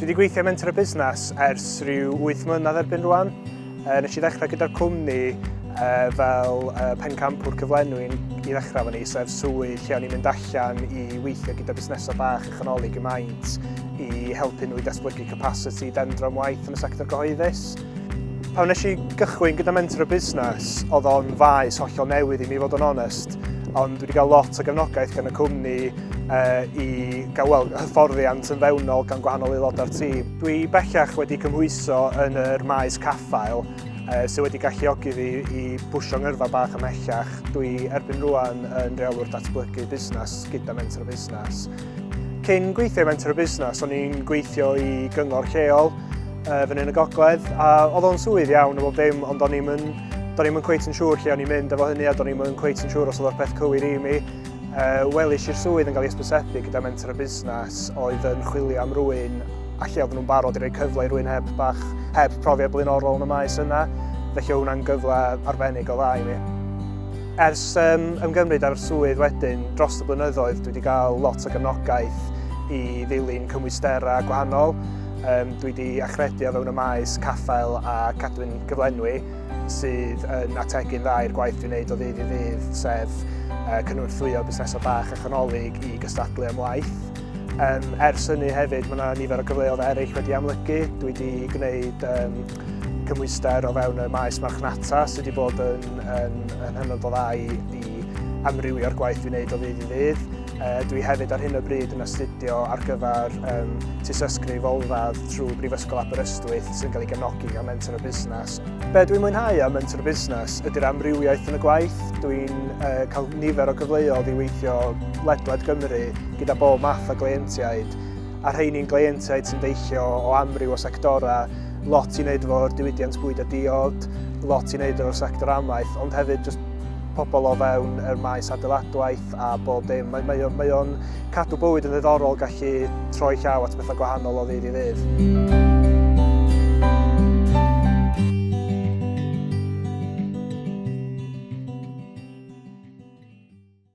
Dwi wedi gweithio mentor y busnes ers rhyw 8 mlynedd erbyn rwan. E, nes i ddechrau gyda'r cwmni e, fel e, pencampwr cyflenwi i ddechrau fan ni, sef swydd lle o'n i'n mynd allan i weithio gyda busnesau bach a chanoli gymaint i helpu nhw i datblygu capacity dendro'n waith yn y sector gyhoeddus. Pan wnes i gychwyn gyda mentor y busnes, oedd o'n faes hollol newydd i mi fod yn onest, ond wedi cael lot o gefnogaeth gan y cwmni uh, i gael well, hyfforddiant yn fewnol gan gwahanol aelodau'r tîm. Dwi bellach wedi cymhwyso yn yr maes caffael uh, sydd wedi galluogi fi i bwysio ngyrfa bach ymhellach. Dwi erbyn rwan yn reolwr datblygu busnes gyda mentor y busnes. Cyn gweithio i Mentor y Busnes, o'n i'n gweithio i gyngor lleol uh, fyny yn y gogledd, a oedd o'n swydd iawn o bob dim, ond o'n i'n Do'n i'n cweit yn siŵr lle o'n i'n mynd efo hynny a do'n i'n cweit yn siŵr os oedd o'r peth cywir i mi. Uh, Welis i'r swydd yn cael ei ysbysebu gyda mentor y busnes oedd yn chwilio am rwy'n a lle oedd nhw'n barod i roi cyfle i rwy'n heb bach, heb profiad blaenorol yn y maes yna, felly oedd hwnna'n gyfle arbennig o dda i mi. Ers um, ymgymryd â'r swydd wedyn, dros y blynyddoedd dwi wedi cael lot o gefnogaeth i ddilyn cymwysterau gwahanol. Um, dwi wedi achredu o fewn y maes caffael a cadwyn gyflenwi sydd yn ategu'n dda i'r gwaith dwi'n gwneud o ddydd i ddydd, sef uh, cynorthwyo busnesau bach a chanolig i gystadlu am waith. Um, ers hynny hefyd, mae yna nifer o gyfleoedd eraill wedi amlygu. Dwi wedi gwneud um, cymwyster o fewn y maes marchnata sydd wedi bod yn, yn, yn hynod o dda i, i amrywio'r gwaith dwi'n wneud o ddydd i ddydd. E, dwi hefyd ar hyn o bryd yn astudio ar gyfer um, tysysgrif olradd trwy Brifysgol Aberystwyth sy'n cael ei gefnogi gan Mentor o Busnes. Be dwi'n mwynhau am Mentor o Busnes ydy'r amrywiaeth yn y gwaith. Dwi'n e, cael nifer o gyfleoedd i weithio ledled Gymru gyda bob math o gleientiaid a rheini'n gleientiaid sy'n deillio o amryw o sectorau, lot i wneud efo'r diwydiant bwyd a diod, lot i wneud efo'r sector amaeth, ond hefyd just pobl o fewn yr maes adeiladwaith a bob dim. Mae, mae, mae o'n cadw bywyd yn ddiddorol gallu troi llaw at bethau gwahanol o ddydd i ddydd.